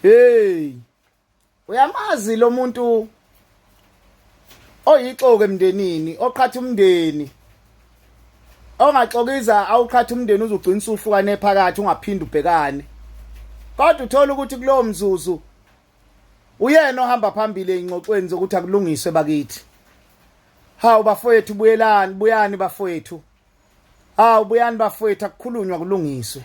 hey uyamazi lo muntu oyixoke emndenini oqhatha umndeni ongaxokiza awuqhatha umndeni uzogcina usuhlukane phakathi ungaphindi ubhekane kodwa uthola ukuthi kulowo mzuzu uyena ohamba phambili engxoxweni zokuthi akulungiswe bakithi hawu bafowethu buyelani buyani bafowethu Hawu buyani bafowethu akukhulunywa kulungiswe.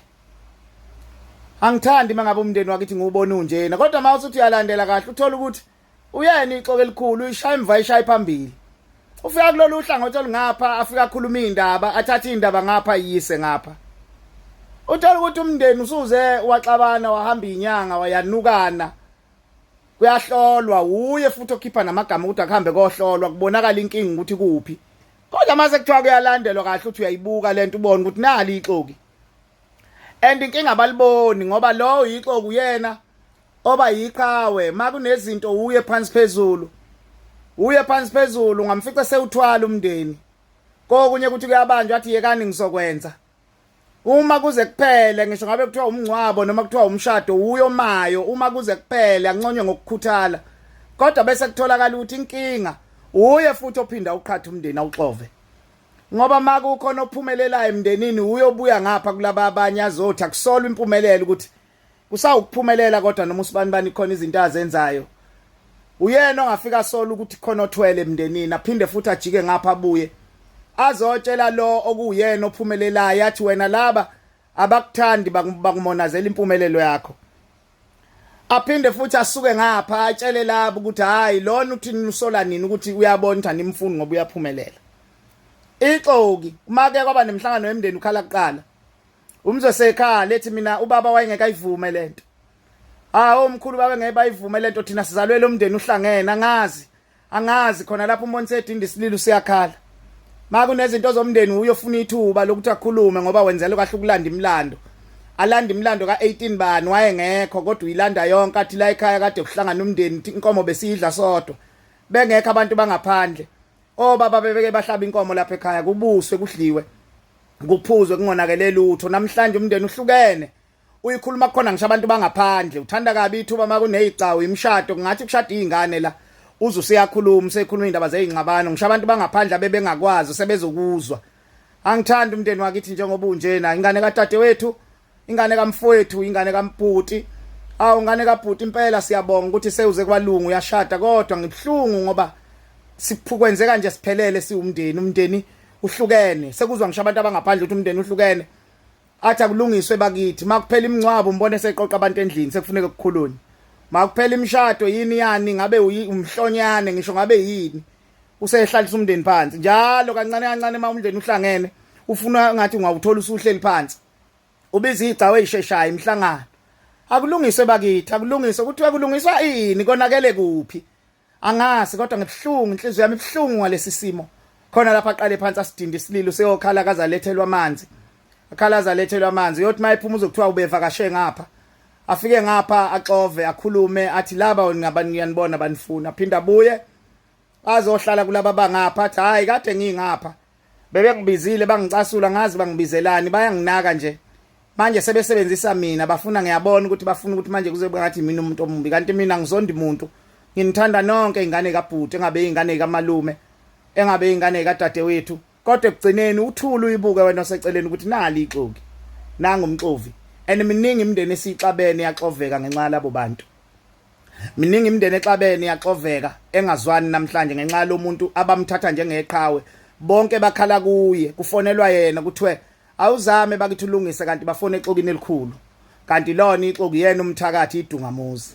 Angithandi mangabe umndeni wakithi ngiwubona unjena kodwa mawuthi uthi uyalandela kahle uthola ukuthi uyena ixoke elikhulu ishaya imva ishaya phambili. Ufika kulolu hlangothi olungapha afika akhuluma indaba athatha indaba ngapha yise ngapha. Uthola ukuthi umndeni usuze waxabana wahamba inyanga wayanukana. Kuyahlolwa wuye futhi okhipha namagama ukuthi akuhambe kohlolwa kubonakala inkingi ukuthi kuphi. kodwa mase kuthiwa kuyalandelwa kahle uthi uyayibuka lento ubona ukuthi nali ixoki and inkinga abaliboni ngoba lowo yixoku yena oba yiqhawe makunezinto uye phansi phezulu uye phansi phezulu ngamfica sewuthwala umndeni kokunye ukuthi kuyabanjwa athi yekani ngizokwenza uma kuze kuphele ngisho ngabe kuthiwa umngcwabo noma kuthiwa umshado uyo mayo uma kuze kuphele anconya ngokukhuthala kodwa bese kutholakala ukuthi inkinga uye futhi ophinda uqhatha umndeni awuxove ngoba makukhona ophumelelayo emndenini uyobuya ngapha kulaba abanye azothi akusolwa impumelelo ukuthi kusawukuphumelela kodwa noma usibani bani khona izinto azenzayo uyena ongafika sola ukuthi khona othwele emndenini aphinde futhi ajike ngapha abuye azotshela lo okuyena ophumelelayo athi wena laba abakuthandi bakumonazela impumelelo yakho aphinde futhi asuke ngapha atshele labo ukuthi hayi lona uthi nisola nini ukuthi uyabona ukuthi animfuni ngoba uyaphumelela ixoki uma ke kwaba nemhlangano yemndeni ukhala kuqala umzose ekhala ethi mina ubaba wayengekayivume lento ah omkhulu babe ngeke bayivume lento thina sizalwele umndeni uhlangene angazi angazi khona lapho umbonise edinda isililo siyakhala makunezinto zomndeni uyofuna ithuba lokuthi akhulume ngoba wenzela kahle ukulanda imlando alanda imlando ka18 bani wayengekho kodwa uyilanda yonke athi la ekhaya kade kuhlangana umndeni inkomo besiyidla sodwa bengekho abantu bangaphandle obaba bebeke bahlaba inkomo lapha ekhaya kubuswe kudliwe kuphuzwe kungonakele lutho namhlanje umndeni uhlukene uyikhuluma khona ngisho abantu bangaphandle uthanda kabi ithuba makunezicawu imshado kungathi kushada izingane la uze useyakhuluma usekhuluma indaba zezinxabano ngisho abantu bangaphandle abebengakwazi sebezokuzwa angithandi umndeni wakithi njengoba unjena ingane kadadewethu ingane kamfowethu ingane kamphuti awu ngane kabhuti impela siyabonga ukuthi sewuze kwalungu uyashada kodwa ngibuhlungu ngoba siphukwenzeka nje siphelele siwumndeni umndeni uhlukene sekuzwa ngisho abantu abangaphandle ukuthi umndeni uhlukene athi akulungiswe bakithi makuphela imingcwabo umbone seqoqa abantu endlini sekufuneka kukhulunye makuphela imishado yini yani ngabe umhlonyane ngisho ngabe yini usehlalisa umndeni phansi njalo kancane kancane uma umndeni uhlangene ufuna ngathi ungawuthola usuhleli phansi ubiza igcawu eyisheshayo imhlangano akulungiswe bakithi akulungiswe kuthiwa kulungiswa ini konakele kuphi angazi kodwa ngibuhlungu inhliziyo yami ibuhlungu ngalesi simo khona lapha aqale phansi asidinde isililo seyokhala kaza lethelwa amanzi akhalaza lethelwa amanzi uyothi mayephuma uzokuthiwa ubevakashe ngapha afike ngapha axove akhulume athi laba ngaba ngiyanibona banifuna phinda buye bazohlala kulaba bangapha athi hayi kade ngingapha bebengibizile bangicasula ngazi bangibizelani bayanginaka nje manje sebesebenzisa mina bafuna ngiyabona ukuthi bafuna ukuthi manje kuze ngathi mina umuntu omumbi kanti mina ngizondi muntu nginithanda nonke ingane kabhuti engabe ingane kamalume engabe ingane kadadewethu kodwa ekugcineni uthula uyibuke wena oseceleni ukuthi nali ixoki nangumxovi and miningi imindeni esixabene yaxoveka ngenxa yalabo bantu miningi imindeni exabene yaxoveka engazwani namhlanje ngenxa yalomuntu abamthatha njengeqhawe bonke bakhala kuye kufonelwa yena kuthiwe awuzame bakithi ulungise kanti bafona exokini elikhulu kanti lona ixoki yena umthakathi idungamuzi